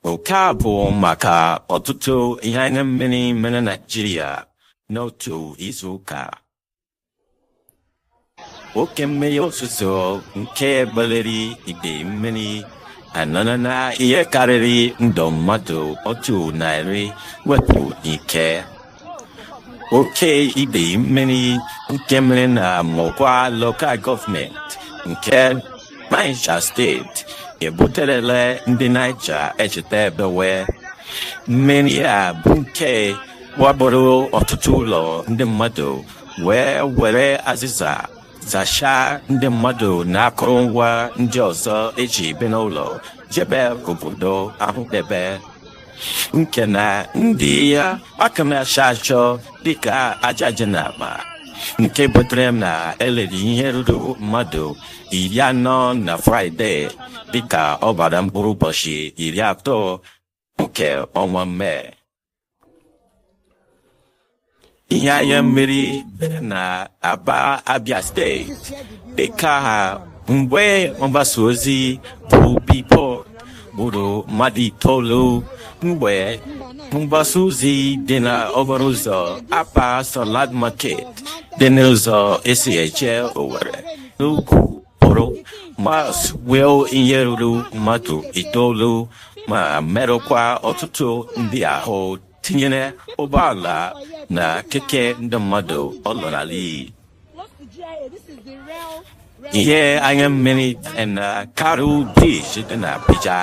Nke a bụ maka ọtụtụ ihe anya mmiri mere Naịjirịa n'otu izuụka. Oke mmiri ozuzo nke kpaliri ide mmiri anarala ihe karịrị ndụ mmadụ otu narị wepụ n'ike. oke ide mmiri nke mere na Mokwa lokal gọọmenti nke Niger steeti ebuterele ndị Niger echeta ebewe mmiri a bụ nke wakporo ọtụtụ ụlọ ndị mmadụ wee were azịza zachaa ndị mmadụ na akụrụngwa ndị ọzọ eji ebi n'ụlọ jebe obodo ahụ debe nke na ndị a ka na-achọ achọ dịka aja dị na akpa nke butere na e liri ihe ruru mmadụ iri anọ na fraịde dịka ọ gbara mkpụrụ ụbọchị iri atọ nke ọnwa mee ihe anya mmiri mere na aba abia steeti dịka mgbe mgbasa ozi bụ billboard gburu mmadụ itoolu mgbe mgbasa ozi dị na okporo ụzọ Aba salad market dị n'ụzọ esi eje owere n'ugwu pụrụ ma wee ihe ruru mmadụ itoolu ma merụkwa ọtụtụ ndị ahụ tinyere ụgbọala na keke ndị mmadụ ọ lara n'iyi ihe anya mmiri na karu brij dị na Abuja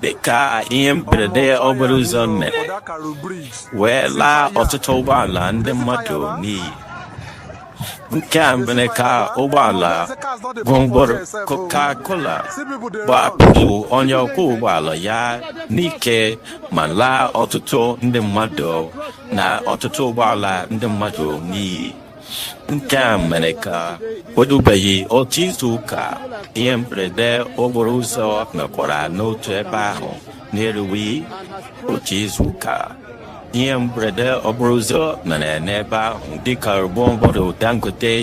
dịka ihe mberede okporo ụzọ mere wee laa ọtụtụ ụgbọala ndị mmadụ n'iyi nke a mere ka ụgbọala gwongworo Coca-Cola gbapụ onye ọkwọ ụgbọala ya n'ike ma laa ọtụtụ ndị mmadụ na ọtụtụ ụgbọala ndị mmadụ n'iyi nke a mere ka o rubeghị otu izu ụka ihe mberede okporo ụzọ mekwara n'otu ebe ahụ na-eruwe otu izu ụka ihe mberede okporo ụzọ mere n'ebe ahụ dịka ụgbọ gwongworo dangote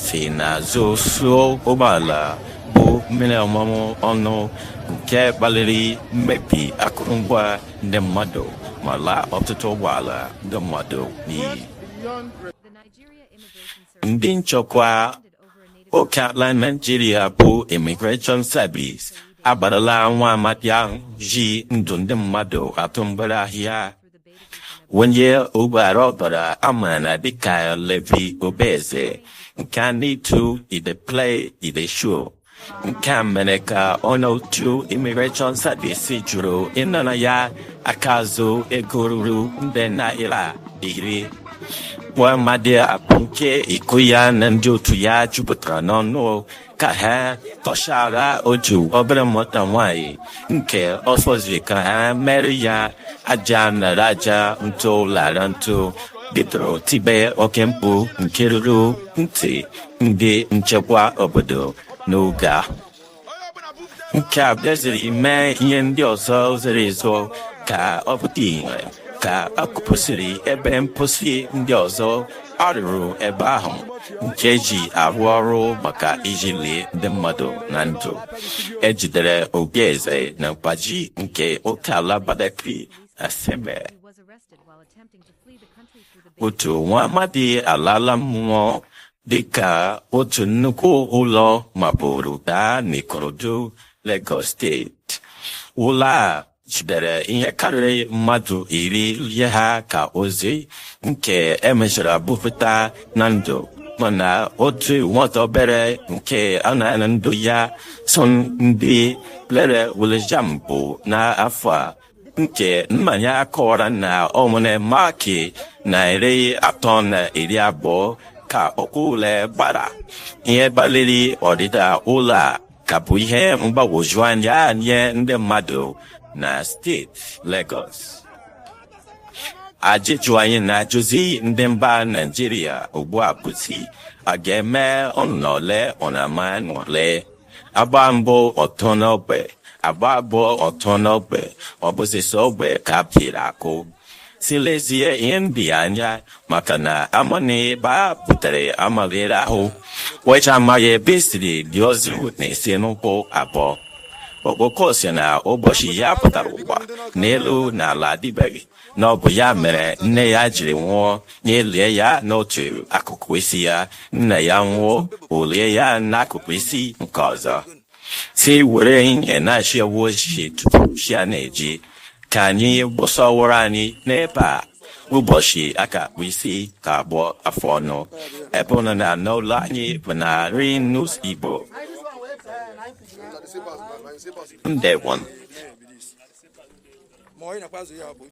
si n'azụ suo ụgbọala bu mmiri ọṅụṅụ ọnụ nke kpaliri mmebi akụrụngwa ndị mmadụ ma laa ọtụtụ ụgbọala ndị mmadụ n'iyi ndị nchekwa Okeala Naijiria bụ Immigration Service akparala nwa amadi ahụ ji ndụ ndị mmadụ atụ mgbere ahịa onye ogbu ara ọbara a maara dịka Levi Obieze nke a na-etu E Dey Play E Dey Show nke a mere ka onye otu immigration service jụrụ ịnara ya aka azụ ego ruru nde naira iri nwa amadi a bụ nke iko ya na ndị otu ya jupụtara n'ọnụ ka ha tọchara otu obere nwata nwanyị nke ọ fọziri ka ha mere ya aja nara aja ntụ lara ntụ bidoro tibe oke mkpu nke ruru ntị ndị nchekwa obodo n'oge ahụ nke a bịaziri mee ihe ndị ọzọ zoro ezo ka ọ pụta ihe ka a kụpusịrị ebe mposi ndị ọzọ a rụrụ ebe ahụ nke e ji arụ ọrụ maka iji lie ndị mmadụ na ndụ e jidere Obieze na Gbaji nke oke ala Badagry na Seme otu nwa amadi alaala mmụọ dịka otu nnukwu ụlọ mapụrụ daa n'Ikorodu Lagos steeti ụlọ a jidere ihe karịrị mmadụ iri lie ha ka ozu nke e mechara bupụta na ndụ mana otu nwata obere nke a nara ndụ ya so na ndị lere ule JAMB n'afọ a nke nna ya kọwara na ọ nwere maakị narị atọ na iri abụọ ka ọkwa ule gbara ihe kpaliri ọdịda ụlọ a ka bụ ihe mgbagwoju anya nye ndị mmadụ na steeti Lagos ajụjụ anyị na-ajụzi ndị mba Naịjirịa ugbu a bụzi a ga-eme ọnọle ọnama nọle a gbaa mbụ ọ tọ n'ogbe a gbaa abụọ ọ tọ n'ogbe ọ bụzi sọ ogbe ka a pịrị akụ sị lezie ihe ndị a anya maka na amana ebe a pụtara amalere ahụ wecha amaghị ebe esiri dị ozi na-esi n'ụkwụ abụọ okpoko si na ụbọchị ya pụtara ụwa na elu na ala adịbeghị na ọ bụ ya mere nne ya jiri nwụọ ya elie ya n'otu akụkụ isi ya nna ya nwụọ o lie ya n'akụkụ isi nke ọzọ sị were ihe na-achị ewu ojii tupu chi a na-eji ka anyị gbụsọwụrụ anyị n'ebe a ụbọchị a ga-akpụ isi ka a kpụọ afọ ọnụ ebe ụnụ nọ n'ụlọ anyị bụ na Ring News Igbo ndewon